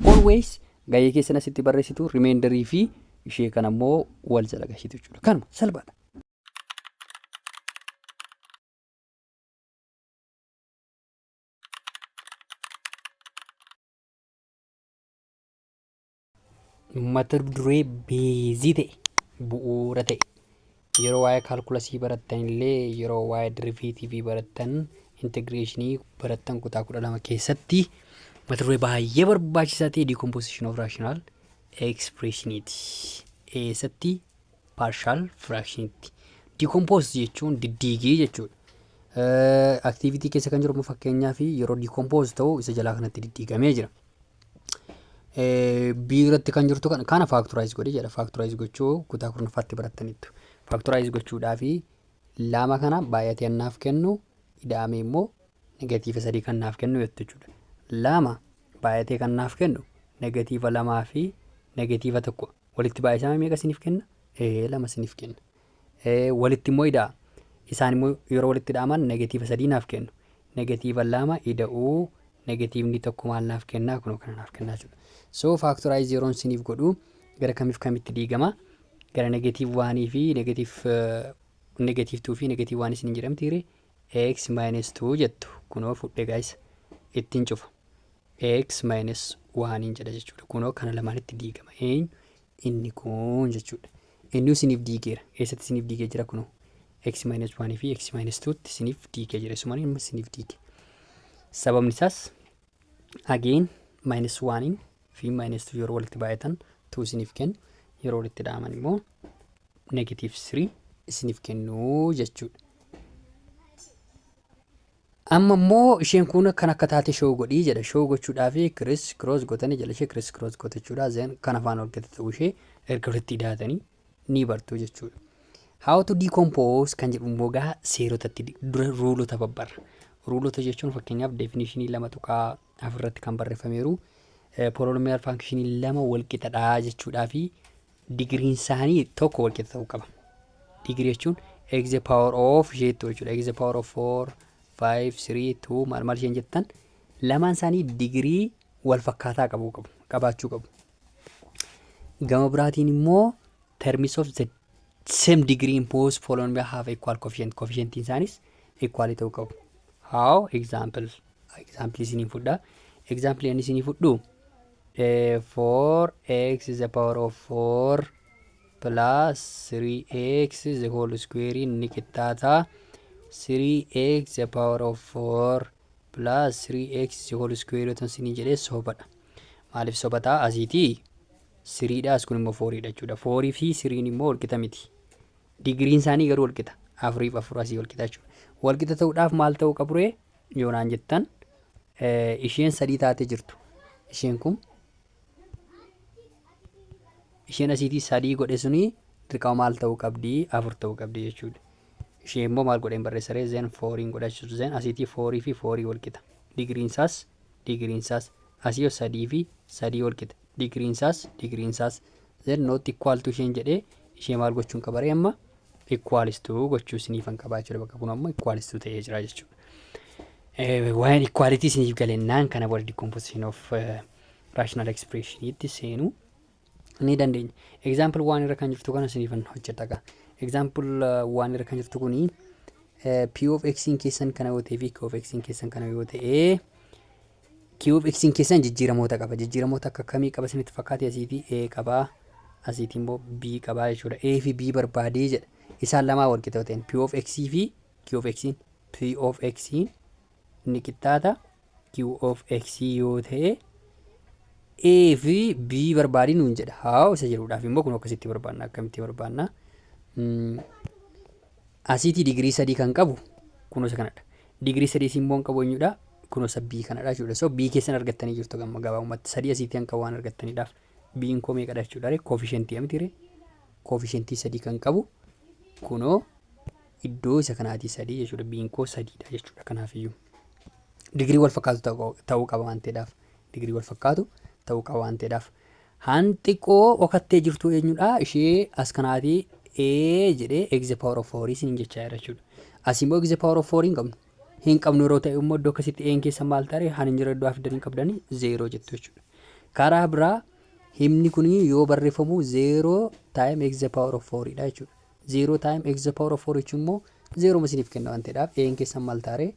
Always gahee keessan asitti barreessitu remainder fi ishee kana immoo wal jala gashitu jechuudha. Kanuma salphaadha. mata duree beezii ta'e bu'uura ta'e Yeroo waa'ee kaalkulasii barattan illee yeroo waa'ee diriveetiivii barattan integreeshinii barattan kutaa kudha lama keessatti mata duree baay'ee barbaachisaa ta'e diikompoosishin of raashinaal ekspreeshiniiti. Eessatti paarshaal firaakshinitti. Diikompoos jechuun diddiigii jechuudha. Aktiivitii keessa kan jiru fakkeenyaaf yeroo diikompoos ta'u isa jalaa kanatti diddiigamee jira. B irratti kan jirtu kana kana faaktoraayiz godhi jedha faaktoraayiz gochuu kutaa kurnaffaatti barattaniittu faaktoraayiz gochuudhaa fi lama kana baay'atee annaaf kennu ida'ame immoo negatiiva sadii kan naaf kennu jettu jechuudha lama baay'atee kan naaf kennu negatiiva lamaa fi negatiiva tokko walitti baay'isama meeqa siniif kenna ee lama siniif kenna walitti immoo ida'a. Isaan immoo yeroo walitti ida'aman negatiiva sadii naaf kennu. Negatiiva lama ida'uu negatiivni tokko maal naaf kennaa kunoo kana naaf kennaa jechuudha. So faaktoraayiz yeroon siniif godhu gara kamiif kamitti diigama? Gara negatiiv waanii fi negatiiv negatiiv tuu fi negatiiv waan isin jedhamti hiri x minus 2 jettu kunoo fudhe gaayisa ittiin cufa x minus waaniin jedha jechuudha kunoo kana lamaanitti diigama eenyu inni kun jechuudha. Inni isiniif diigeera. Eessatti isiniif diigee jira kunoo. x minus 1 fi x minus 2 tti isiniif diigee jira. Isumaan immoo isiniif diige. Sababni isaas again minus 1 fi minus 2 yeroo walitti baay'atan 2 isiniif kennu yeroo walitti dhaaman immoo negative 3 isiniif kennu jechuudha. Amma immoo isheen kuun akkan akka taate show godhii jedha show gochuudhaafi criss cross gotani jala ishee criss cross gotachuudha then kan afaan ol gate ta'uu ishee erga walitti idaatanii ni bartuu jechuudha. How to decompose kan jedhu immoo gaa seerotatti dura ruulota babbarra. Ruulota jechuun fakkeenyaaf definition lama tuqaa afur irratti kan barreeffameeru poolonomiyaal faankishinii lama walqixa dha jechuudhaa fi digiriin isaanii tokko walqixa ta'uu qaba. Digirii jechuun x the power of isheettu jechuudha. x the power of 4, 5, 3, 2 maal maal isheen jettan lamaan isaanii digirii wal fakkaataa qabu qabu qabaachuu qabu. Gama biraatiin immoo terms of the same degree in both following have equal coefficient coefficient isaanis equal ta'uu qabu how example example isinii fudhaa example ani isinii fudhuu eh, 4x is the power of 4 plus 3x is the whole square in ni qixxaataa 3x the power of 4 plus 3x the whole square yoo ta'u isinii jedhee sobadha maaliif sobataa asiitii siriidha as kun immoo fooriidha jechuudha. Foorii fi siriin immoo walqixa miti. Digiriin isaanii garuu walqixa. Afuriif afur asii walqixa jechuudha. Walqixa ta'uudhaaf maal ta'uu qaburee yoo naan jettan isheen sadii taatee jirtu. Isheen kun isheen asiitii sadii godhe suni dirqama maal ta'uu qabdi afur ta'uu qabdi jechuudha. Ishee immoo maal godheen barreessaree zeen fooriin godhachuutu zeen asiitii foorii fi foorii walqixa. Digiriin isaas digiriin isaas asii yoo sadii fi sadii walqixa. digriinsaas digriinsaas Z not equal to isheen jedhee ishee maal gochuun qaba ree amma equals to gochuu isiniifan qabaa jechuudha bakka kun ammoo equals to ta'ee jira jechuudha. Waa'een equality isiniif galennaan kana booda decomposition of rational expression itti seenuu ni dandeenya. Example waan irra kan jirtu kana isiniifan hojjedha gaa. Example waan irra kan jirtu kuni P of X keessan kana yoo ta'e fi Q of X keessan kana yoo ta'e QFXn keessan jijjiiramoota qaba. Jijjiiramoota akka kamii qaba isinitti fakkaate asii fi A qaba. Asiitiin immoo B qaba jechuudha. A fi B barbaadee jedha. Isaan lamaa wal qixa yoo ta'een P of X fi Q of Xn P of X ni qixxaata Q of X yoo ta'e A fi B barbaadii nuun jedha. Haa isa jedhuudhaaf immoo kun akkasitti barbaanna akkamitti barbaanna. Asiitii digirii sadii kan qabu kunoo isa kanadha. Digirii sadii siin boon qabu eenyudha? Kunoo isa B kanadha jechuudha. So B keessan argattanii jirtu gamma gabaabumatti sadii asiitii kan qabu waan argattaniidhaaf B'n koo meeqadha jechuudha ree koofishentii miti ree koofishentii sadii kan qabu kunoo iddoo isa kanaatii sadii jechuudha B'n koo sadiidha jechuudha kanaafiyyuu digirii wal fakkaatu ta'uu qaba waan ta'eedhaaf digirii wal fakkaatu ta'uu qaba waan ta'eedhaaf Haan xiqqoo okattee jirtuu eenyudha ishee as kanaati a jedhee x the power of 4 isiniin jechaa jira jechuudha. Asii immoo x the power of 4 hin qabnu. Hin qabnu yeroo ta'e immoo iddoo akkasitti a'n keessa maal taare haan hin jira iddoo afiddan hin qabdani 0 jettu jechuudha. Karaa biraa himni kun yoo barreeffamu 0 time x the power of 4 dha jechuudha. 0 time x the power of 4 jechuun immoo 0 ma isiniif kenna waan ta'eedhaaf eeyin keessan maal ta'a ree?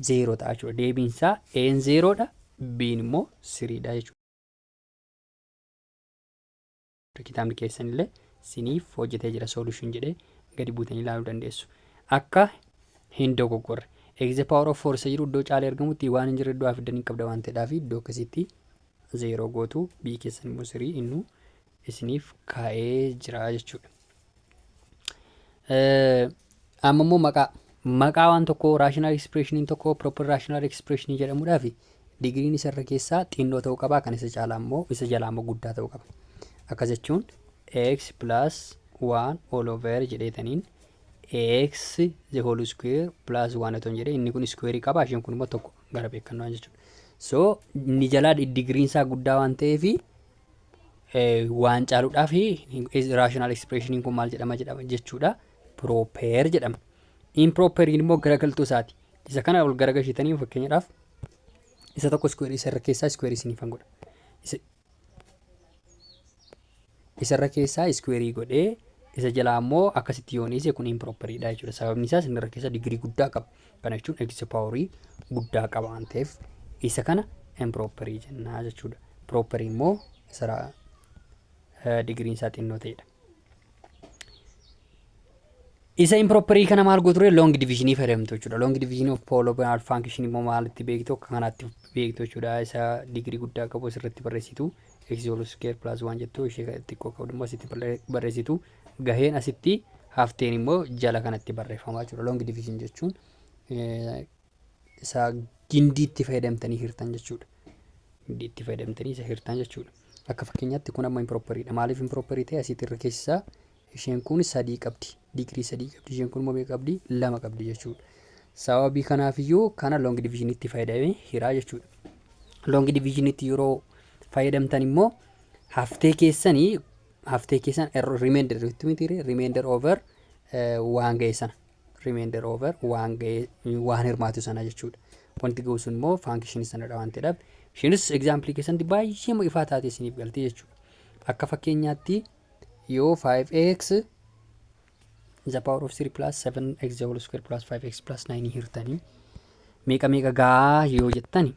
0 ta'a jechuudha. Deebiin isaa eeyin 0 dha, biin immoo 3 dha jechuudha. Kitaabni keessan illee isiniif hojjetee jira solution jedhee gadi buutanii ilaaluu dandeessu. Akka hin dogoggorre. X the power of 4 isa jiru iddoo caalee argamutti waan hin jirre iddoo fiddanii qabda waan ta'eedhaaf iddoo akkasitti 0 gootu B keessan immoo 3 innuu isiniif kaa'ee jira jechuudha. Amma immoo maqaa maqaa waan tokkoo raashinaal ekspreeshiniin tokko piroopper raashinaal ekspreeshinii jedhamudhaa fi digiriin isa irra keessaa xinnoo ta'uu qaba kan isa caalaa immoo isa jalaa immoo guddaa ta'uu qaba. Akka jechuun x plus 1 all over jedheetaniin x the whole square plus 1 otoo hin jedhee inni kun square qaba isheen kun immoo tokko gara beekannoo jechuudha. So inni jalaa digiriin isaa guddaa waan ta'eefi waan caaluudhaaf rational expression kun maal jedhama jedhama jechuudha proper jedhama improper immoo garagaltuu isaati isa kana ol garagalchitanii fakkeenyaadhaaf isa tokko square isa irra keessaa square isiniif godha isa irra keessaa square godhee isa jalaa immoo akkasitti yooniise kun improperidha jechuudha sababni isaas inni irra keessa digirii guddaa qaba Kana jechuun x paaworii guddaa qaba waan ta'eef isa kana improperii jennaa jechuudha. Properii immoo isa digiriin isaa xinnoo ta'edha. Isa improperii kana maal gootu long division fayyadamtu jechuudha. Long division of polynomial function immoo maalitti beektu akka kanaatti beektu jechuudha. Isa digirii guddaa qabu asirratti barreessitu x whole square plus 1 jettu ishee xiqqoo qabdu immoo asitti barreessitu. Gaheen asitti hafteen immoo jala kanatti barreeffama jechuudha. Long division jechuun isa gindiitti fayyadamtanii hirtan jechuudha. Gindiitti fayyadamtanii isa hirtan jechuudha. Akka fakkeenyaatti kun amma improperidha. Maaliif improperii ta'e asitti irra keessaa isheen kun sadii qabdi. Digirii sadii qabdi. Isheen kun immoo meeqa qabdi? Lama qabdi jechuudha. Sababii kanaaf iyyuu kana long division itti fayyadamee hiraa jechuudha. Long division itti yeroo fayyadamtan immoo haftee keessanii haftee keessan er- remainder jettu miti ree remainder over eh, waan ga'e sana remainder over waan ga'e waan hirmaatu sana jechuudha wanti ga'u sun immoo faankishinii sanadha waan ta'eedhaaf ishiinis egzaampilii keessatti baay'ee ma ifaa taate isiniif galtee jechuudha akka fakkeenyaatti yoo 5x the power of 3 plus 7x the whole square plus 5x plus 9 hirtanii meeqa meeqa gaa yoo jettani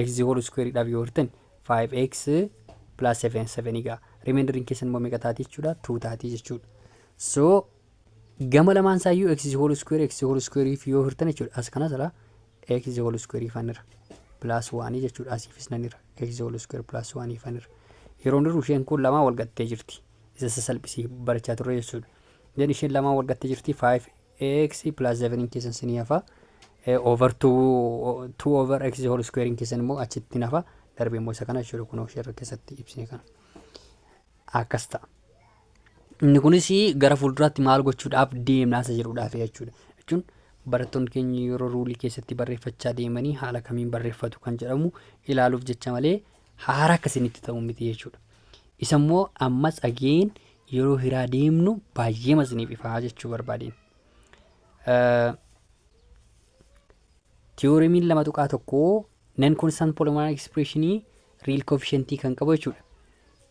x whole square dhaaf yoo hirtan 5x plus 7 7 egaa remainder keessan immoo meeqa taati jechuudha 2 taati jechuudha so gama lamaan isaa iyyuu x whole square x whole square fi yoo hirtan jechuudha as kanas irraa x whole square fanirra plus 1 jechuudha asiifis nanirra x whole square plus 1 fanirra yeroo nirru isheen kun lamaa wal gattee jirti isa sasalphisii barachaa turre jechuudha jedhi isheen lamaa wal gattee jirti 5 ax plus 7n keessan sinii hafa over 2 over x whole squarein keessan immoo achitti nafa darbe immoo isa kana jechuudha kunoo sheerra keessatti ibsine kana akkas ta'a. Inni kunis gara fuulduraatti maal gochuudhaaf deemnaa isa jedhuudhaaf jechuudha. Jechuun barattoonni keenya yeroo ruulii keessatti barreeffachaa deemanii haala kamiin barreeffatu kan jedhamu ilaaluuf jecha malee haara akkasinitti ta'u miti jechuudha. Isa immoo ammas ageen yeroo hiraa deemnu baay'eema isiniif ifaa jechuu barbaadeen. Tiyooremiin lama tuqaa tokko nan konstant polynomial expression real coefficient kan qabu jechuudha.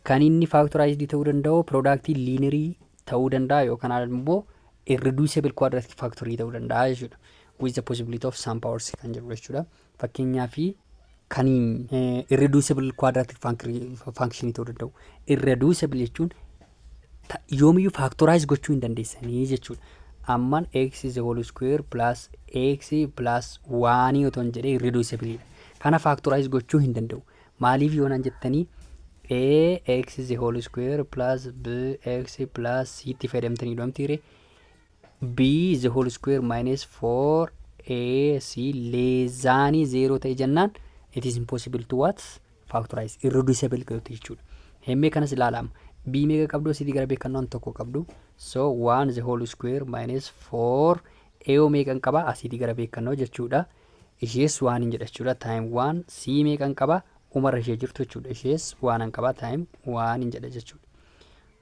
Kan inni factorized ta'uu danda'u product lineary ta'uu danda'a yookaan immoo irreducible quadratic factory ta'uu danda'a jechuudha. With the possibility of some powers kan jedhu jechuudha. Fakkeenyaaf kan irreducible quadratic function ta'uu danda'u. Irreducible jechuun ta- yoomiyyuu factorize gochuu hin dandeessanii jechuudha. Amman x is the whole square plus x plus 1 otoo hin jedhee irreducible dha. Kana factorize gochuu hin danda'u. Maaliif yoo naan jettanii ax is the whole square plus bx plus c itti fayyadamtanii dhoomtiire B the whole square minus 4ac leezaanii zeeroo ta'e jennaan it is impossible to what factorize irreducible godhate jechuudha. Hemmee kanas ilaalaama. B meeqa qabdu asiitii gara beekannoon tokko qabdu. So 1 the whole square minus 4 eeyoo meeqan qaba asiitii gara beekannoo jechuudha. Ishees waan hin jedha jechuudha time 1 C meeqan qaba umarra ishee jirtu jechuudha. Ishees waan hin qaba time 1 hin jedha jechuudha.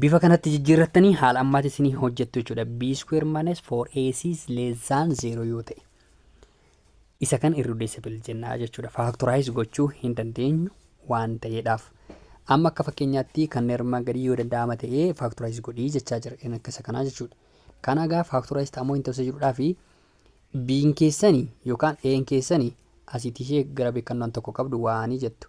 bifa kanatti jijjiirrattanii haala ammaatti isinii hojjettu jechuudha. b square minus 4ac is less than 0 yoo ta'e isa kan irreducible jennaa jechuudha. Factorize gochuu hin dandeenyu waan ta'eedhaaf. Amma akka fakkeenyaatti kan armaan gadii yoo danda'ama ta'e factorize godhii jechaa jira kan akka isa kanaa jechuudha. Kana egaa factorize ta'amoo hin ta'u jedhudhaa fi b'n keessani yookaan e'n keessani asiitii ishee gara beekannaan tokko qabdu waanii jettu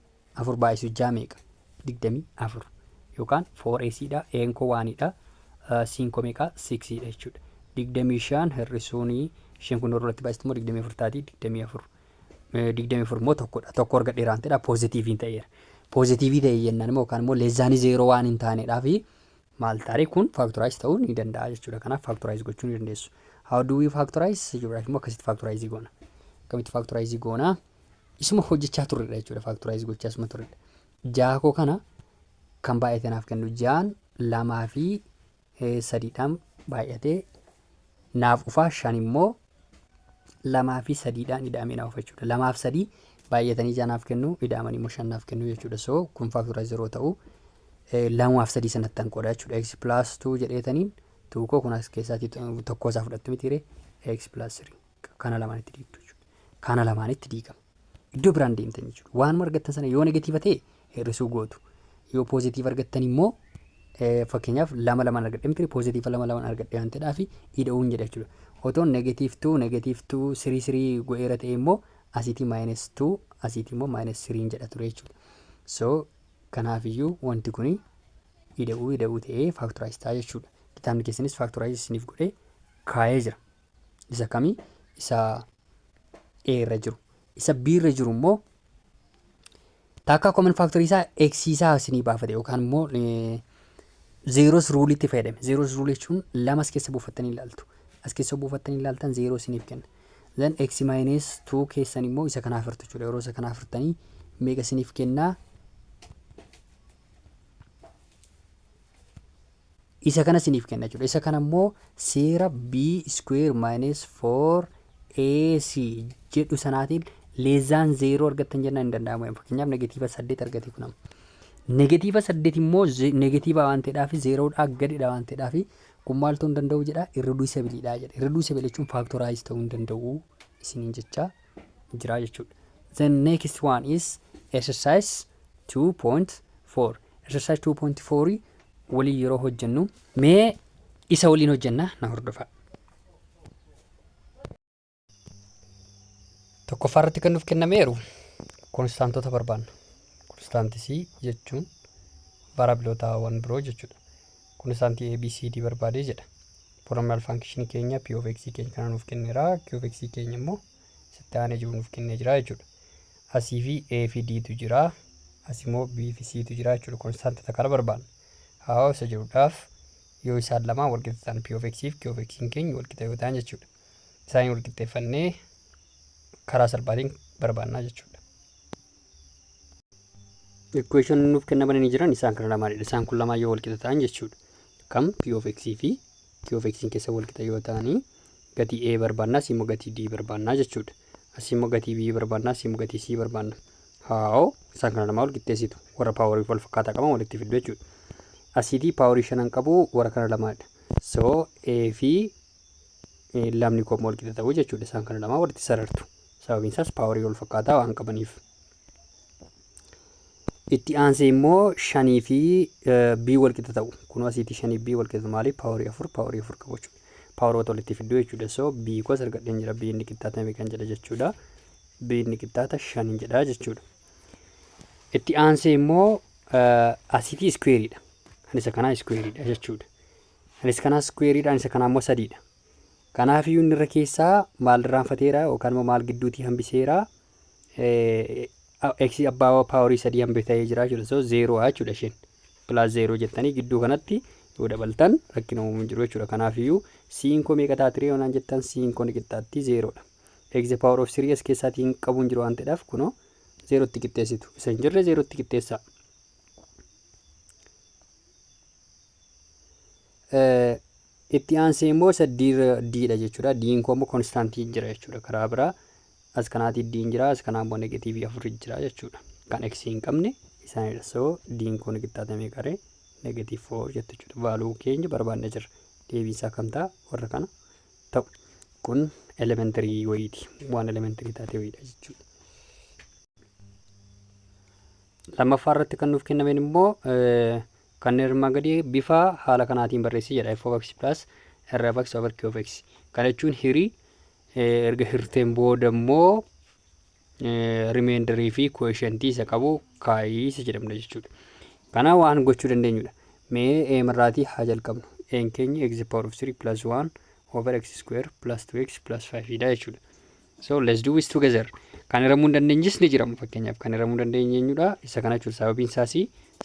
afur baay'isuu ja'a meeqa? digdamii afur yookaan foor eesiidha een koo waaniidha siin koo meeqa siksiidha jechuudha. digdamii shan hir'isuun shan kun irratti baay'istu immoo digdamii afur taati digdamii afur digdamii afur immoo tokkodha tokko arga dheeraan ta'edha poozitiiviin ta'eera. Poozitiivii ta'e jennaan immoo yookaan immoo leezzaanii zeeroo waan hin taanedhaa fi maal taaree kun faaktoraayiz ta'uu ni danda'a jechuudha. Kanaaf faaktoraayiz gochuu ni dandeessu. How do we factorize? Jechuudhaaf immoo akkasitti faaktoraayizii goona. Akkamitti faaktoraayizii goona? Isuma hojjechaa turredha jechuudha faaktoraayiz gochaa isuma turredha. Ja'a koo kana kan baay'ate naaf kennu ja'an lamaa fi eh, sadiidhaan baay'atee naaf dhufaa shan immoo lamaa fi sadiidhaan ida'amee naaf dhufa jechuudha. Lamaaf sadii baay'atanii ja'a naaf kennu ida'amanii immoo shan naaf kennu jechuudha. So kun faaktoraayiz yeroo ta'u eh, lamaaf sadii sanatti tan qooda jechuudha. X plus 2 jedheetaniin 2 koo kun as keessaatii tokkoo isaa fudhattu mitiire X plus 3. kana lamaanitti diigdu jechuudha. Kana lamaanitti diigama. Iddoo biraan deemtan jechuudha. Waanuma argattan sana yoo negatiiva ta'e hir'isuu gootu. Yoo poozitiiva argattan immoo eh, fakkeenyaaf lama lamaan argadhe miti poozitiiva lama lamaan argadhe waan ta'eedhaaf ida'uun jedha jechuudha. Otoon negatiiv tuu negatiiv tuu sirii sirii go'eera ta'e immoo asiitii maayinas tuu asiitii immoo maayinas siriin jedha ture jechuudha. So kanaafiyyuu wanti kuni ida'uu ida'uu ta'ee faaktoraayiz ta'a jechuudha. Kitaabni keessanis faaktoraayiz isiniif godhee kaa'ee jira. Isa kami? Isa A irra jiru. Isa B irra jiru immoo takka common factor isaa x isaa isinii baafate yookaan immoo eh, zeeros ruuliitti fayyadame. Zeeros ruulii jechuun lama as keessa buufattanii ilaaltu. As keessa buufattanii ilaaltan zeeroo isiniif kenna. Then x minus 2 keessan immoo isa kanaaf hirtu jechuudha. Yeroo isa kanaaf hirtanii meeqa isiniif kennaa? isa kana siniif kenna jechuudha. Isa kana immoo seera b square minus 4 ac jedhu sanaatiin leezaan zeeroo argattan jennaan hin danda'amu. Fakkeenyaaf negatiiva saddeet argate kun amma. Negatiiva saddeet immoo negatiiva waan ta'eedhaaf zeeroodhaa gadidha waan ta'eedhaaf kun maaltu hin danda'u jedha irriduusabiliidha jedha. Irriduusabili jechuun faaktoraayiz ta'uu hin danda'u isiniin jecha jira jechuudha. The next one is exercise 2.4. Exercise 2.4 waliin yeroo hojjennu mee isa waliin hojjenna na hordofaa. Tokkoffaa irratti kan nuuf kennameeru konstaantota barbaanna. Konstaantisii jechuun vaaraabilootaawwan biroo jechuudha. Konstaantii ABCD barbaadee jedha. Poolominaal faankshinii keenya P of X keenya kana nuuf kenneera. Q of X keenya immoo sitti aanee jiru nuuf kennee jira jechuudha. Asii fi A fi D tu jira. As immoo B fi C tu jira jechuudha. Konstaantii takka kana barbaanna. Haa isa jedhuudhaaf yoo isaan lamaan walqixa ta'an P of X fi Q of X keenya walqixa yoo ta'an jechuudha. Isaaniin walqixxeeffannee karaa salphaatiin barbaannaa jechuudha. Equation nuuf kennamanii jiran isaan kana lamaanidha. Isaan kun lamaan yoo walqixa ta'an jechuudha. Kam P of X fi Q of X'n keessa wal qixa yoo ta'ani gatii A barbaanna asii immoo gatii D barbaanna jechuudha. Asii immoo gatii B barbaanna asii immoo gatii C barbaanna. Haa'oo isaan kana lamaa wal qixxeessitu warra paaworii wal fakkaataa qaban walitti fiddu jechuudha. Asiitii paaworii shanan qabu warra kana lamaadha. So A fi lamni koo immoo wal qixa ta'u jechuudha isaan kana lamaa walitti sarartu. Sababiin isaas paaworii wal fakkaataa waan qabaniif. Itti aansee immoo shanii fi b wal qixa ta'u. Kunoo asiitii shanii b wal qixa maali? Paaworii afur paaworii afur qabu jechuudha. Paawaroota walitti fidduu jechuudha. So b kos argadheen jira. b inni qixxaata meeqan jedha jechuudha. b inni qixxaata shanin jedha jechuudha. Itti aansee immoo asiitii iskuweeriidha. Kan isa kanaa iskuweeriidha jechuudha. Kan isa kanaa iskuweeriidha. Kan isa kanaa immoo sadiidha. Kanaafiyyuu inni irra keessaa maal irraanfateera yookaan immoo maal gidduutii hambiseera x abbaa paawarii sadii hambe ta'ee jira jechuudha. So zeeroo jechuudha isheen. Pilaas zeeroo jettanii gidduu kanatti yoo dabaltan rakkina uumuu jiru jechuudha. Kanaafiyyuu siin koo meeqa ta'a tiree yoonaan jettan siin koo ni qixxaatti zeeroodha. X power of 3s keessaatii hin qabu hin jiru waan ta'eedhaaf kunoo zeerootti qixxeessitu. Isa hin jirre zeerootti qixxeessaa. Itti aansee immoo isa D irra D dha jechuu dha. D'n koo immoo konstaantii jira jechuu dha. Karaa biraa as kanaatii D'n jira, as kanaa immoo negatiivii afur jira jechuu dha. Kan X hin qabne isaanii dha. So D'n koo ni qixxaata meeqa ree? Negatiiv 4 jette jechuu dha. Vaaluu keenya barbaadna jirra. Deebiin isaa kam ta'a? Warra kana ta'u. Kun elementarii wayiiti. Waan elementarii taate wayiidha jechuu dha. Lammaffaa irratti kan nuuf kennameen immoo Kanneen armaan gadii bifa haala kanaatiin barreessi jedha. f of x plus r of x over q of x. Kana jechuun hiri erga hirteen booda immoo rimeendarii fi koeshentii isa qabu kaayii isa jedhamna jechuudha. Kana waan gochuu dandeenyudha. Mee eem irraatii haa jalqabnu. Een keenya x power of 3 plus 1 over x square plus 2x plus 5 dha jechuudha. So let's do this together. Kan hiramuu hin dandeenyes ni jiramu. Fakkeenyaaf kan hiramuu hin dandeenye eenyudha? Isa kana jechuudha. Sababiin isaas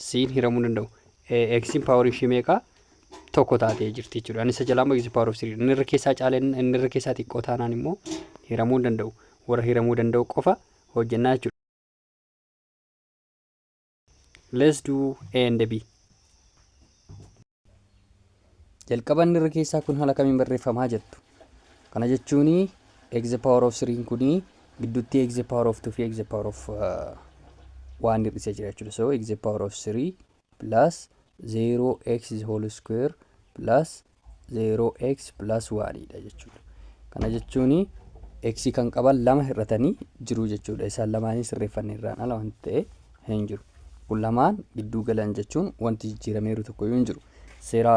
siin hiramuu hin danda'u. Eegsiin paawar ishii meeqa? Tokko taatee jirti jechuudha. Ani isa jalaa immoo eegsiin paawar of siriidha. Inni irra keessaa caalee inni irra keessaa xiqqoo taanaan immoo hiramuu hin danda'u. Warra hiramuu danda'u qofa hojjennaa jechuudha. Let's do A and B. Jalqaban irra keessaa kun haala kamiin barreeffamaa jettu. Kana jechuun x the power of 3 kun gidduutti x the power of 2 fi x the power of uh, 1 hir'isee jira jechuudha. So x the power of 3 plus 0x the whole square plus 0x plus 1 dha jechuudha. Kana jechuun x kan qaban lama hir'atanii jiru jechuudha. Isaan lamaanii sirreeffanne irraan ala wanti ta'e hin jiru. Kun lamaan gidduu galan jechuun wanti jijjiirameeru tokko iyyuu hin jiru. Seera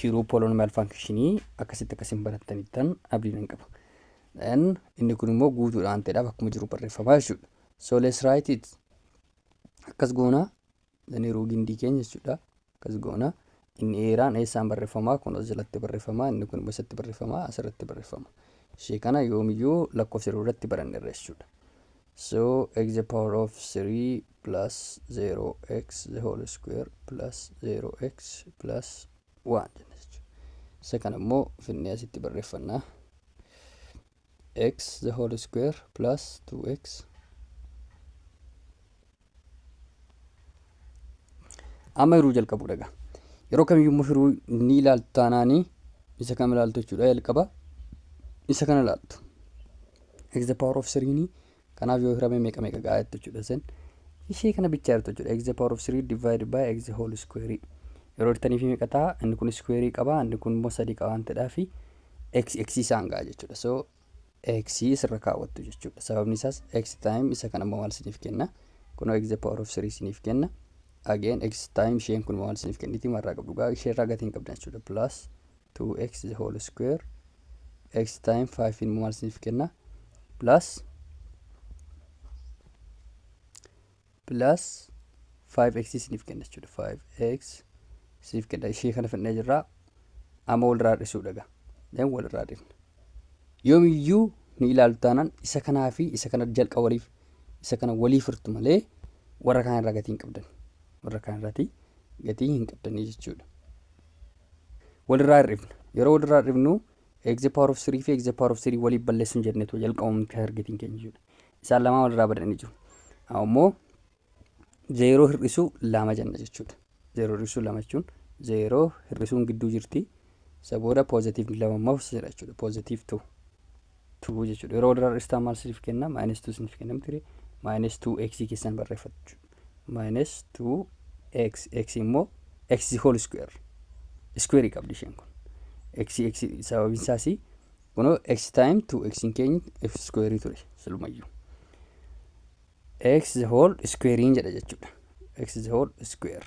hiruu poolonomiyaal faankshinii akkasitti akkasiin barattanittan abdiin hin qaba. Then inni kun immoo guutuudha waan ta'eedhaaf akkuma jiru barreeffama jechuudha. So let's write it. Akkas goona Zaniiruu gindii keenya jechuudha. Akkas goona. Inni eeraan eessaan barreeffama? Kun as jalatti barreeffama. Inni kun immoo eessatti barreeffama? Asirratti barreeffama. Ishee kana yoomiyyuu lakkoofsa yeroo irratti baranneerra jechuudha. So x the power of 3 plus 0x the whole square plus 0x plus 1 jenna jechuudha. Isa kana immoo finnee asitti barreeffannaa. x the whole square plus 2x amma hiruu jalqabuu dhaga yeroo kamiyyuu hiruu ni ilaaltu taanaanii isa kam ilaaltu jechuudha jalqaba isa kana ilaaltu x the power of 3 ni Kanaaf yoo hirame meeqa meeqa ga'a jettu jechuudha sen. Ishee kana bichaa jirtu jechuudha. X the power of 3 divided by x the whole square. Yeroo hirtanii fi meeqa ta'a? Inni kun square qaba, inni kun immoo sadii qaba waan ta'eedhaa fi x x isaan ga'a jechuudha. So x sirra kaawwattu jechuudha. Sababni isaas x time isa kana immoo maal isiniif kenna? Kunoo x the power of 3 isiniif kenna. Again x time isheen kun maal isiniif kenniti? Marraa qabdu gaa ishee irraa gatii hin qabdan jechuudha. Plus 2x the whole square x time 5 immoo maal isiniif kenna plus plus 5x isiniif kenna jechuudha 5x isiniif kenna ishee kana fidnee jirra amma walirraa hir'isuudha gaa then walirraa hir'ifna yoomiyyuu ni ilaaltu taanaan isa kanaa fi isa kana jalqa waliif isa kana waliif hirtu malee warra kaan irraa gatii hin qabdan warra kaan irratti gatii hin qabdanii jechuudha. walirraa hir'ifna. Yeroo walirraa hir'ifnu x the power of 3 fi x the power of 3 waliif balleessuun jennee ture jalqabamni targetiin keenya jechuudha. Isaan lamaan walirraa badanii jiru. Ammoo zeeroo hir'isuu lama jenna jechuudha. Zeeroo hir'isuu lama jechuun zeeroo hir'isuun gidduu jirti. Isa booda poozitiivni lama immoo jedha jechuudha. Poozitiiv 2. 2 jechuudha. Yeroo walirraa dhistaan maal isiniif kenna? Minus 2 isiniif kenna miti. Minus 2x keessan barreeffatu. Minus 2x x immoo x whole square. Square qabdi isheen kun. x x sababiin isaas kunoo x time 2x hin keenyu f square ture silumayyuu. x whole square jedha jechuudha. x whole square.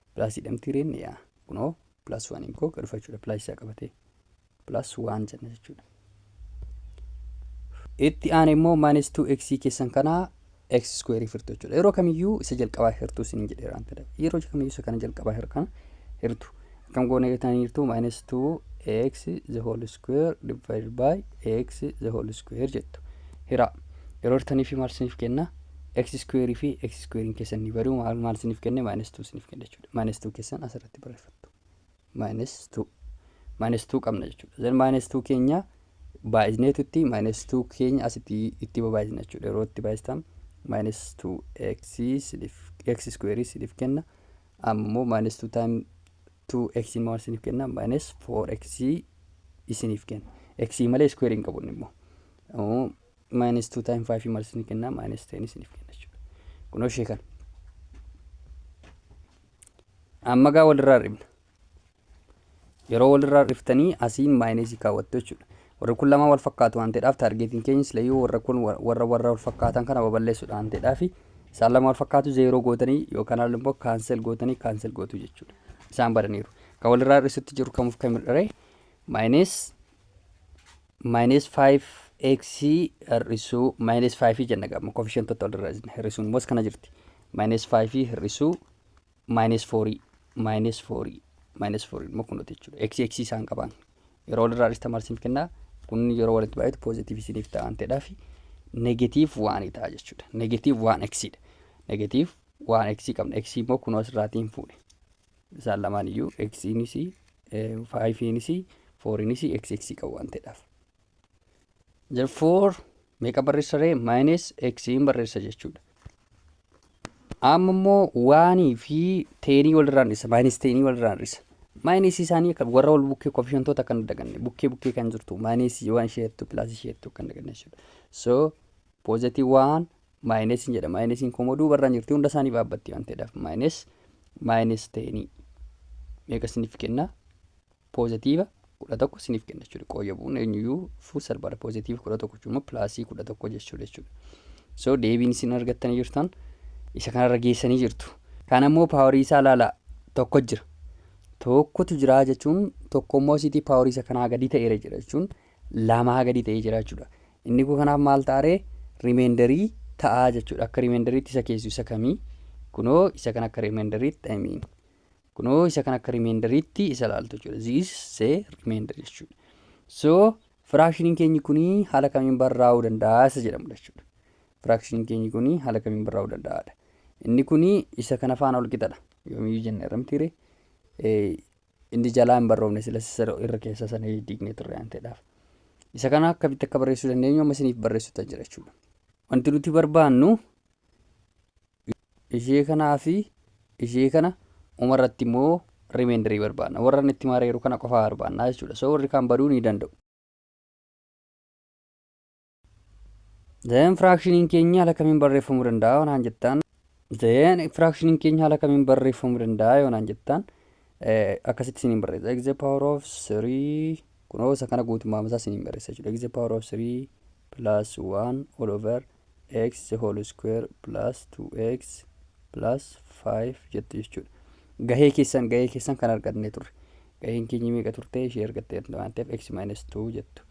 Plus jedhamti reen yaa kunoo plus waan hin koo gadhufa jechuudha plus isaa qabatee plus waan jenna jechuudha. Itti aane immoo minus 2x keessan kana x square hirtu jechuudha. Yeroo kamiyyuu isa jalqabaa hirtuu isin jedheera waan ta'eef yeroo kamiyyuu isa kana jalqabaa hirkan hirtu. Akkam goone tan hirtu minus 2x the whole square divided by x the whole square jettu. Hira yeroo hirtanii fi maal isiniif kenna? x square fi x square keessan ni badu maal maal isiniif kenne minus 2 isiniif kenne jechuudha minus 2 keessan asirratti barreeffattu minus 2 minus 2 qabna jechuudha then minus 2 keenya baay'isneetutti minus 2 keenya asitti itti baay'isna jechuudha yeroo itti baay'istan minus 2x isiniif x square isiniif kenna ammoo minus 2 time 2x immoo isiniif kenna minus 4x isiniif kenna x malee square hin qabu immoo minus 2 time 5 maaltu ni kenna minus 10 isiniif kenna jechuudha. Kunoo ishee kana. Amma gaa walirraa hir'ifna. Yeroo walirraa hir'iftanii asiin maayinasii kaawwattu jechuudha. Warri kun lamaan wal fakkaatu waan ta'eedhaaf taargeetiin keenya silayyuu warra kun warra warra wal fakkaatan kana babal'eessuudha waan ta'eedhaaf isaan lama wal fakkaatu zeeroo gootanii yookaan haala immoo kaansel gootanii kaansel gootu jechuudha. Isaan badaniiru. Kan walirraa hir'isutti jiru kamuuf kan hir'ire maayinees minus 5x hir'isuu minus 5 jenna gama koefficientota walirra isne hir'isuun immoo kana jirti minus 5 hir'isuu minus 4 minus 4 minus 4 immoo kunuuti jechuudha x x isaan qabaan yeroo walirraa dhista maal isiniif kennaa kun yeroo walitti baay'atu positive isiniif ta'a waan ta'eedhaaf negative waan ta'a jechuudha negative waan x dha negative waan x qabna x immoo kunoo asirraatiin fuudhe isaan lamaan iyyuu eksiinis faayifiinis fooriinis eksi eksi qabu waan ta'eedhaaf. Therefore meeqa barreessa ree maayinees eksiin barreessa jechuudha. Amma immoo waanii fi teenii walirraan dhisa maayinees teenii walirraan dhisa. Maayinees isaanii akka warra wal bukkee koofishantoota akka hin daganne bukkee bukkee kan jirtu maayinees waan isheettu pilaas isheettu akka hin daganne jechuudha. So poozatiivii waan Maayinesiin jedha. Maayinesiin koo immoo duubarraan jirti. Hunda isaanii baabbatti waan ta'eedhaaf. Maayines maayines ta'eenii. Meeqa isiniif kenna? Poozitiiva kudha tokko isiniif kenna jechuudha. Qooyya bu'uun eenyuyyuu fuu salphaadha. Poozitiiva kudha tokko jechuun immoo pilaasii kudha tokko jechuudha jechuudha. So deebiin isin argattanii jirtan isa kanarra geessanii jirtu. Kana immoo paawarii isaa ilaalaa tokko jira. Tokkotu jira jechuun tokko immoo asiitii paawarii isa kanaa gadi ta'eera jira jechuun lamaa gadi ta'ee jira jechuudha. Inni kun kanaaf maal ta'aree rimeendarii ta'aa jechuudha. Akka rimeendariitti isa keessu isa kamii? Kunoo isa kan akka rimeendariitti I mean. Kunoo isa kan akka rimeendariitti isa laaltu jechuudha. This is a remainder jechuudha. So firaakshiniin keenyi kuni haala kamiin barraa'uu danda'a isa jedhamudha jechuudha. Firaakshiniin keenyi kuni haala kamiin barraa'uu danda'aadha. Inni kuni isa kana faana wal qixadha. Yoomiyyuu jenna irra mitiire. Inni jalaa hin barroofne silas isa irra keessa sana diignee turre waan ta'eedhaaf. Isa kana akkamitti akka barreessuu dandeenyu amma isiniif barreessuutan jira jechuudha. Wanti nuti barbaannu ishee kanaa fi ishee kana uma irratti immoo remeendarii barbaanna. Warra inni itti maareeru kana qofaa barbaanna jechuudha. So warri kaan baduu ni danda'u. Then firaakshiniin keenya haala kamiin barreeffamuu danda'a yoo naan jettan. Then firaakshiniin keenya haala kamiin barreeffamuu danda'a yoo naan jettan. Akkasitti isiniin barreessa. X the power of 3 kunoo isa kana guutummaa isaa isiniin barreessa jechuudha. X the power of 3 plus 1 all over x the whole square plus 2x plus 5 jettu jechuudha. Gahee keessan gahee keessan kan arganne turre. Gaheen keenya meeqa turte ishee argattee waan ta'eef x minus 2 jettu.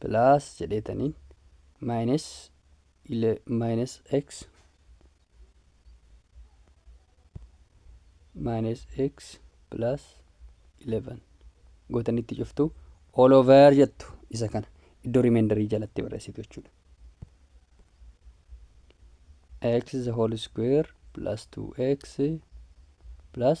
plus jedheetaniin minus minus x minus x plus 11 gootanii itti cuftu all over jettu isa kana iddoo rimendarii jalatti barreessitu jechuudha. x the whole square plus 2x plus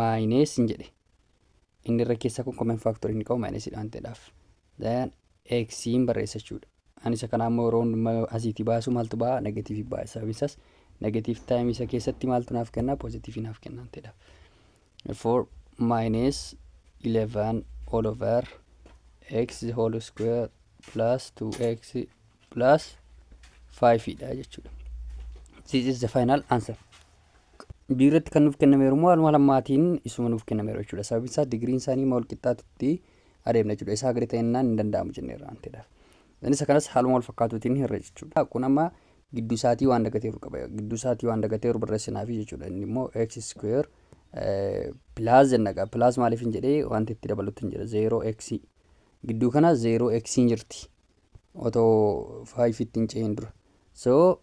minus hin jedhe inni irra keessaa kun common factor inni qabu minus dhaan ta'edhaaf then x hin barreessa jechuudha ani isa kanaa immoo yeroo hundumaa asiitii baasu maaltu ba'a negatiivii ba'a sababiin isaas negatiiv taayimii isa keessatti maaltu naaf kennaa poozitiivii naaf kennaan ta'edha therefore minus 11 all over x whole square plus 2x plus 5 dha jechuudha this is the final answer B irratti kan nuuf kennameeru immoo haaluma lammaatiin isuma nuuf kennameeru jechuudha. Sababiin isaa digiriin isaanii immoo walqixxaatutti adeemna jechuudha. Isaa gadi ta'ennaan hin danda'amu jenneerra waan ta'eedhaaf. Isa kanas haaluma wal fakkaatuutiin hirre jechuudha. Kun amma gidduu isaatii waan dagateeru qaba. Gidduu isaatii waan dagateeru barreessinaafi jechuudha. Inni immoo x square pilaas jenna qaba. Pilaas maaliif hin jedhee wanti itti dabalutti hin jira. Zeeroo x gidduu kana zeeroo x hin jirti. otoo 5 itti hin ce'in dura so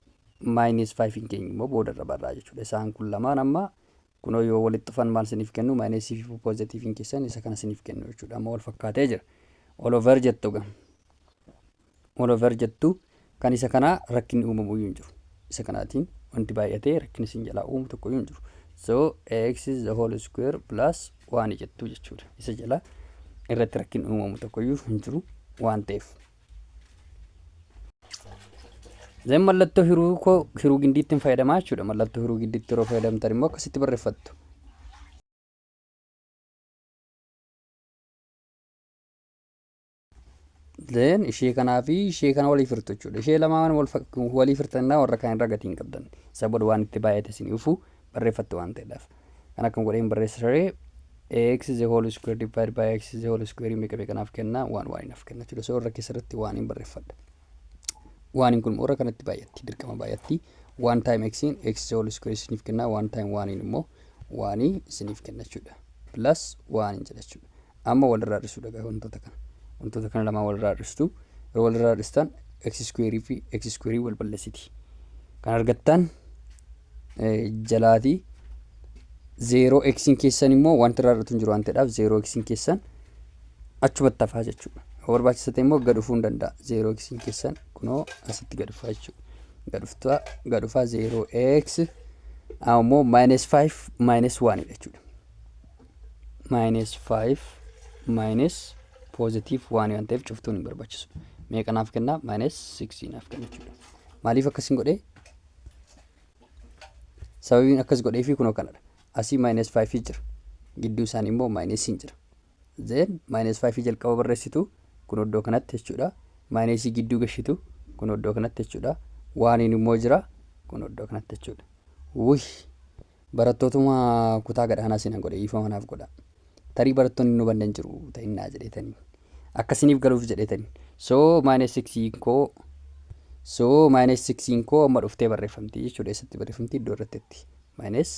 minus 5 hin keenyu immoo booda irra barraa jechuudha isaan kun lamaan amma kunoo yoo walitti dhufan maal siniif kennu minus fi positive hin keessan isa kana siniif kennu jechuudha amma wal fakkaatee jira all over jettu ga all over jettu kan isa kanaa rakkinni uumamu iyyuu hin jiru isa kanaatiin wanti baay'atee rakkinni isin jalaa uumu tokko iyyuu hin jiru so x is the whole square plus waan jettuu jechuudha. Isa jala irratti rakkin uumamu tokkoyyuu hin jiru waan ta'eef. Zeen mallattoo hiruu koo hiruu gindiitti hin fayyadamaa jechuudha. Mallattoo hiruu gindiitti yeroo fayyadamtan immoo akkasitti barreeffattu. Then ishee kanaa fi ishee kana walii firtu jechuudha. Ishee lamaan wal fak- walii firtannaa warra kaan irra gatii hin qabdan. Isa booda waan itti baay'ate isin dhufu barreeffattu waan ta'eedhaaf. Kan akkam godheen barreessa saree x is the whole square divided by x is the whole square meeqa meeqa naaf kenna waan waan naaf kenna jechuudha. So irra keessa irratti waan hin barreeffadha. Waan hin kun warra kanatti baay'atti dirqama baay'atti waan time x in x is the whole square isiniif kenna waan time waan hin immoo waan isiniif kenna jechuudha. Plus waan hin jedha jechuudha. Amma walirraa hir'isuu dhagaa wantoota kana. Wantoota kana lamaan walirraa hir'istu. Yeroo walirraa hir'istan x square fi x square wal balleessiti. Kan argattan jalaati. Zeeroo x keessan immoo wanti irraa hir'atu hin jiru waan ta'eedhaaf zeeroo x keessan achumatti hafaa jechuudha. Yoo barbaachisa ta'e immoo gad dhufuu hin danda'a. Zeeroo x keessan kunoo asitti gad dhufaa jechuudha. Gad dhuftaa gad dhufaa zeeroo x ammoo minus 5 minus 1 jechuudha. minus 5 minus positive 1 waan ta'eef cuftuun hin barbaachisu. Meeqa naaf kenna? Minus 6 naaf kenna jechuudha. Maaliif akkasiin godhee? Sababiin akkas godhee fi kunoo kanadha. Asii minus 5 jira. Gidduu isaanii immoo minus hin jira. Zeen minus 5 jalqaba barreessitu kun iddoo kanatti jechuudha. Minus gidduu gashitu kun iddoo kanatti jechuudha. Waaniin immoo jira kun iddoo kanatti jechuudha. Wuhi! barattootuma kutaa gad aanaa seenan godhe dhiifama naaf godhaa. Tarii barattoonni hin hubanne hin jiru ta'innaa jedheetanii. Akka isiniif galuuf jedheetanii. So minus 6 koo so minus 6 koo amma dhuftee barreeffamti jechuudha. Eessatti barreeffamti iddoo irrattetti. Minus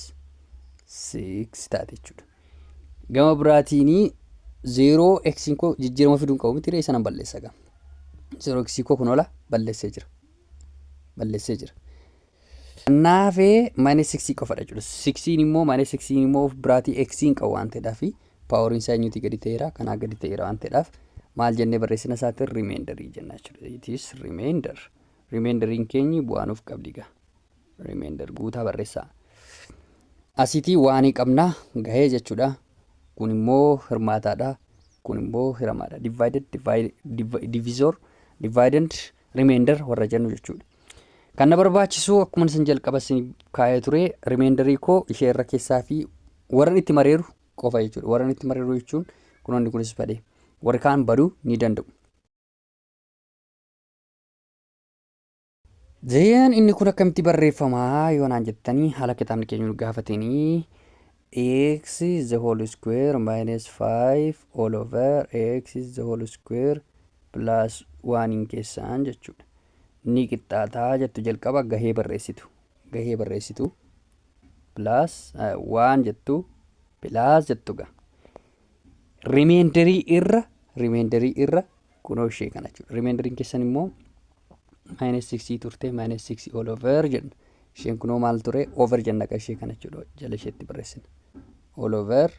6 taate jechuudha. Gama biraatiin 0 x koo jijjiirama fiduun qabu miti ree sanan balleessa gama. 0 x koo kun ola balleessee jira. Balleessee jira. Kannaafee minus 6 qofadha jechuudha. 6n immoo minus 6n immoo of biraatii x hin qabu waan ta'eedhaaf paaworiin isaa eenyuutii gadi ta'eera kanaa gadi ta'eera waan ta'eedhaaf maal jennee barreessina isaatiin remeendarii jenna jechuudha. It is remainder. Remeendariin keenyi bu'aa nuuf qabdi gaa. Remeender guutaa barreessaa. Asiitii waanii qabna gahee jechuudha. Kun immoo hirmaataadha. Kun immoo hiramaadha. Divided, divide, div- divisor, dividend, remainder warra jennu jechuudha. Kan na barbaachisu akkuma isin jalqaba isin kaa'ee ture remainder koo ishee irra keessaa fi warra itti mareeru qofa jechuudha. Warra itti mareeru jechuun kunoonni kunis badee warri kaan baduu ni danda'u. Zeen inni kun akkamitti barreeffama yoo naan jettanii haala kitaabni keenya nu gaafateenii X is the whole square minus 5 all over X is the whole square plus 1 hin keessaan jechuudha. Ni qixxaataa jettu jalqaba gahee barreessitu. Gahee barreessitu plus 1 jettu plus jettu ga. Rimeenderii irra rimeenderii irra kunoo ishee kana jechuudha. Rimeenderiin keessan immoo maayinas siksii turte maayinas siksii ol over jenna. Isheen kunoo maal ture over jenna akka ishee kana jechuudha jala isheetti barreessina. Ol over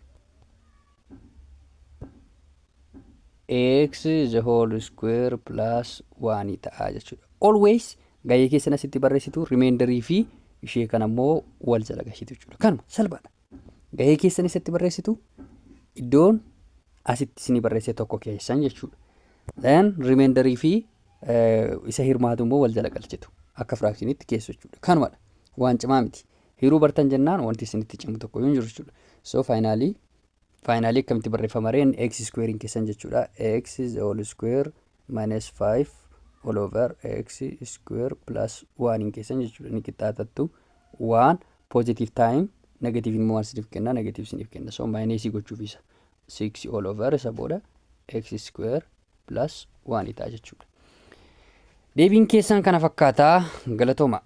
x the whole square plus 1 ta'a jechuudha. Always gahee keessan asitti barreessitu rimeenderii fi ishee kana immoo wal jala gashitu jechuudha. Kanuma salphaadha. Gahee keessan isatti barreessitu iddoon asitti isinii barreessee tokko keessan jechuudha. Then remainder fi isa hirmaatu immoo wal jala galchitu akka firaakshiniitti keessu jechuudha. Kanumadha. Waan cimaa miti. Hiruu bartan jennaan wanti isinitti cimu tokko hin jiru jechuudha. So faayinaalii faayinaalii akkamitti barreeffama reen x iskuweeriin keessan jechuudha. x is all square minus 5 all over x square plus 1 hin keessan jechuudha. Ni qixxaatattu 1 positive time negative immoo maal isiniif kenna negative isiniif kenna so maayineesii gochuuf isa 6 all over isa booda x square plus 1 ta'a jechuudha. Deebiin keessan kana fakkaata galatooma.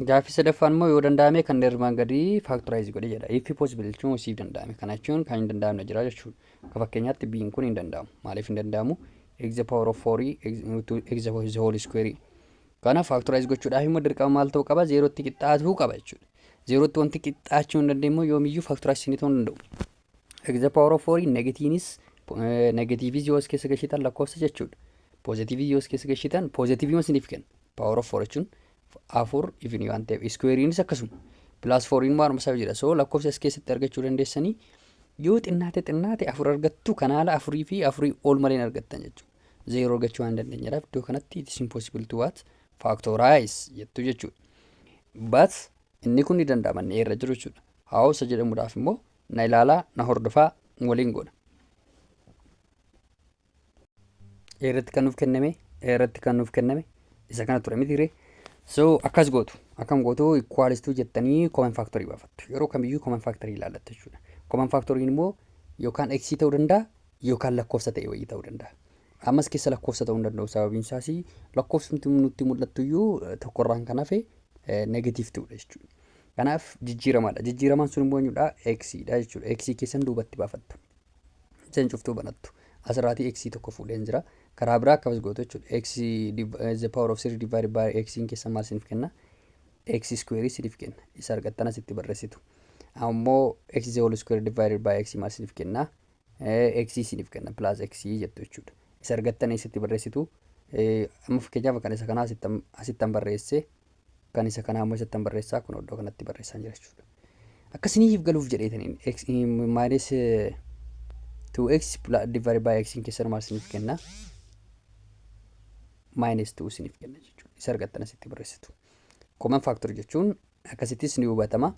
Gaaffii sadaffaan immoo yoo danda'ame kan dheermaan gadii faaktoraayiz godhe jedha. If possible jechuun siif danda'ame. Kana jechuun kan hin danda'amne jira jechuudha. Akka fakkeenyaatti biin kun hin danda'amu. Maaliif hin danda'amu? X the power of 4 x the whole square Kanaaf factorize gochuudhaaf immoo dirqama maal ta'uu qaba? Zeerootti qixxaatuu qaba jechuudha. Zeerootti wanti qixxaachuu hin dandeenye immoo yoomiyyuu factorizing ta'uu hin danda'u. X the power of 4 negatiinis negatiiviis yoo as keessa gashitan lakkoofsa jechuudha. Poozitiivii yoo as keessa gashitan poozitiivii waan isiniif kenna. Power of 4 jechuun afur ifni waan ta'eef iskuweeriinis akkasuma. Pilaas fooriin waan isaa jira. So lakkoofsa as keessatti argachuu dandeessanii yoo xinnaate xinnaate afur argattu kanaala afurii fi afurii ol malee hin argattan jechuudha. zeeroo argachuu waan dandeenyedhaaf iddoo kanatti it is impossible to what factorize jettu jechuudha. But inni kun ni danda'ama inni irra jiru jechuudha. Haawusa jedhamuudhaaf immoo na ilaalaa na hordofaa waliin godha. Irratti kan nuuf kenname irratti kan nuuf kenname isa kana ture miti ree. So akkas gootu akkam gootu ikwaalistuu jettanii kooman faaktorii baafattu yeroo kamiyyuu kooman faaktorii ilaallattu jechuudha. Kooman faaktoriin immoo yookaan x ta'uu danda'a yookaan lakkoofsa ta'e wayii ta'uu danda'a. Ammas keessa lakkoofsa ta'uu hin danda'u sababiin isaas lakkoofsumti nutti mul'attu iyyuu tokkorraan kan hafe negatiif ta'udha jechuudha. Kanaaf jijjiiramaadha. Jijjiiramaan sun immoo eenyudha? X dha jechuudha. X keessan duubatti baafattu. Isin cuftuu banattu. Asirraatii X tokko fuudheen jira. Karaa biraa akkamas gootu jechuudha. X the power of 3 divided by X keessan maal isiniif kenna? X square isiniif kenna. Isa argattan asitti barreessitu. Ammoo X the whole square divided by X maal isiniif kenna? x isiniif kenna plus x jettu jechuudha. Isa argattan eessatti barreessitu? Amma fakkeenyaaf kan isa kanaa asittan barreesse kan isa kanaa immoo isattan barreessaa kun iddoo kanatti barreessaan jira jechuudha. Akkasiniif galuuf jedheetaniin x minus 2x divided by x keessan maal isiniif kenna? Minus 2 isiniif kenna jechuudha. Isa argattan asitti barreessitu. Common factor jechuun akkasittis ni hubatama.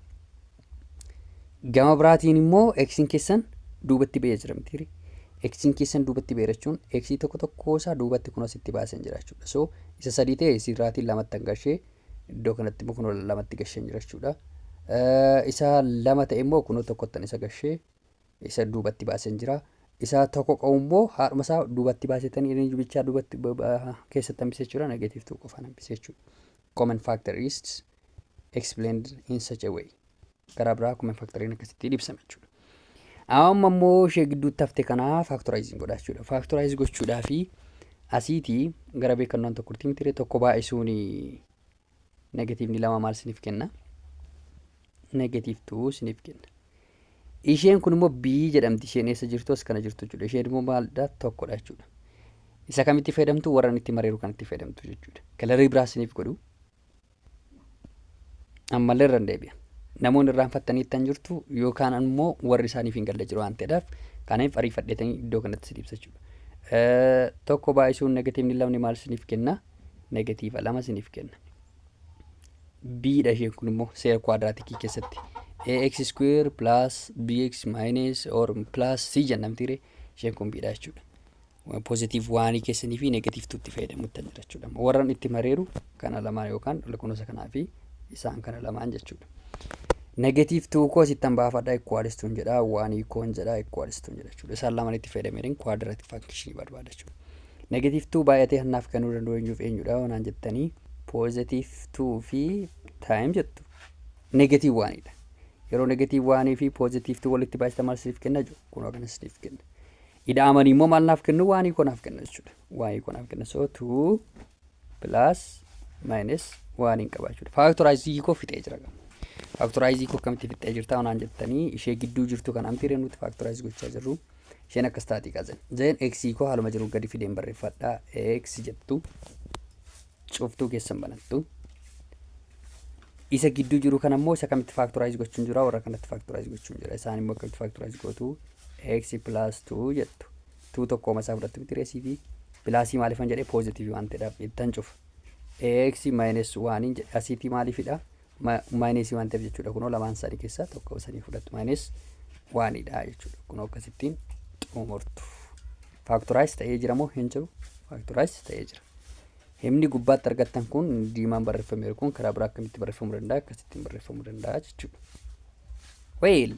Gama biraatiin immoo x'n keessan duubatti ba'ee jira mitiiri. X'n keessan duubatti ba'eera jechuun x tokko tokkoo isaa duubatti kun asitti baasan jira jechuudha. So isa sadii ta'e isirraatiin lamatti an gashee iddoo kanatti immoo kunoo lamatti gasheen jira jechuudha. Isa lama ta'e immoo kunoo tokkottan isa gashee isa duubatti baasen jira. Isa tokko qabu immoo haadhuma isaa duubatti baasetanii inni jubichaa duubatti ba- ba- keessatti hambise jechuudha. Negatiiv tuu qofaan hambise jechuudha. Common factor is explained in such a way. Karaa biraa common factoriin akkasitti ibsama jechuudha. Amma immoo ishee gidduutti hafte kana faaktoraayiziin godha jechuudha. Faaktoraayiz gochuudhaa fi asiitii gara beekannoon tokko ultiimitiree tokko baay'isuun Negatiivni lama maal isiniif kenna? Negatiiv tuu isiniif kenna. Isheen kun immoo B jedhamti. Isheen eessa jirtu as kana jirtu jechuudha. Isheen immoo maalidha? Tokkodha jechuudha. Isa kamitti fayyadamtu? Warra itti mareeru kanatti fayyadamtu jechuudha. Kalarii biraa isiniif godhu. Ammallee irra deebi'a. Namoonni irraanfattanii ittan jirtu yookaan immoo warri isaaniif hin galle jiru waan ta'eedhaaf kanaaf ariifadheetanii iddoo kanatti isiniif ibsa jechuudha. Tokko baay'isuun negatiivni lamni maal isiniif kenna? negatiiva lama isiniif kenna. b dha isheen kun immoo seera kuwaadraatikii keessatti ax square plus bx minus or plus c jennamtiire isheen kun b dha jechuudha. Pozitiiv waanii keessanii fi negatiiv tuutti fayyadamutti jira jechuudha. Warran itti mareeru kana lamaan yookaan lakkoofsa kanaa fi isaan kana lamaan jechuudha. Negatiiv tuu koo asittan baafadha ikkuwaalistuun jedha waanii koon jedha ikkuwaalistuun jedha jechuudha. Isaan lamaan itti fayyadameerin kuwaadraatik faankishinii barbaada jechuudha. Negative two baay'atee kan naaf kennuu danda'u eenyuuf eenyudha yoo naan jettanii positive two fi time jettu negative one dha. Yeroo negative one fi positive two walitti baay'ista maal siif kenna jiru kun akkana siif kenna. Ida'amanii immoo maal naaf kennu waanii koo naaf kenna jechuudha. Waanii koo naaf kenna so two plus minus waaniin qaba jechuudha. Faaktoraayizii koo fixee jira qaba. Faaktoraayizii koo akkamitti fixee jirta yoo naan jettanii ishee gidduu jirtu kan amti nuti faaktoraayiz gochaa jirru. Isheen akkas taati kaa zeen. Zeen x koo haaluma jiru gadi fideen barreeffadha. x jettu cuftuu keessan banattu. Isa gidduu jiru kan ammoo isa kamitti faaktoraayiz gochuun jira warra kanatti faaktoraayiz gochuun jira. Isaan immoo akkamitti faaktoraayiz gootu x plus 2 jettu. 2 tokkooma isaa fudhattu miti reesii fi pilaasii maaliifan jedhee poozitiivii waan ta'eedhaaf ittan cufa. x minus 1 jedhe asiitii maaliifidha? maayineesii waan ta'eef jechuudha kunoo lamaan isaanii keessaa tokko isanii fudhattu maayinees waanidha jechuudha kunoo akkasittiin xumurtu faaktoraayiz ta'ee jira moo hin jiru faaktoraayiz ta'ee jira himni gubbaatti argattan kun diimaan barreeffameeru kun karaa biraa akkamitti barreeffamuu danda'a akkasittiin barreeffamuu danda'a jechuudha weel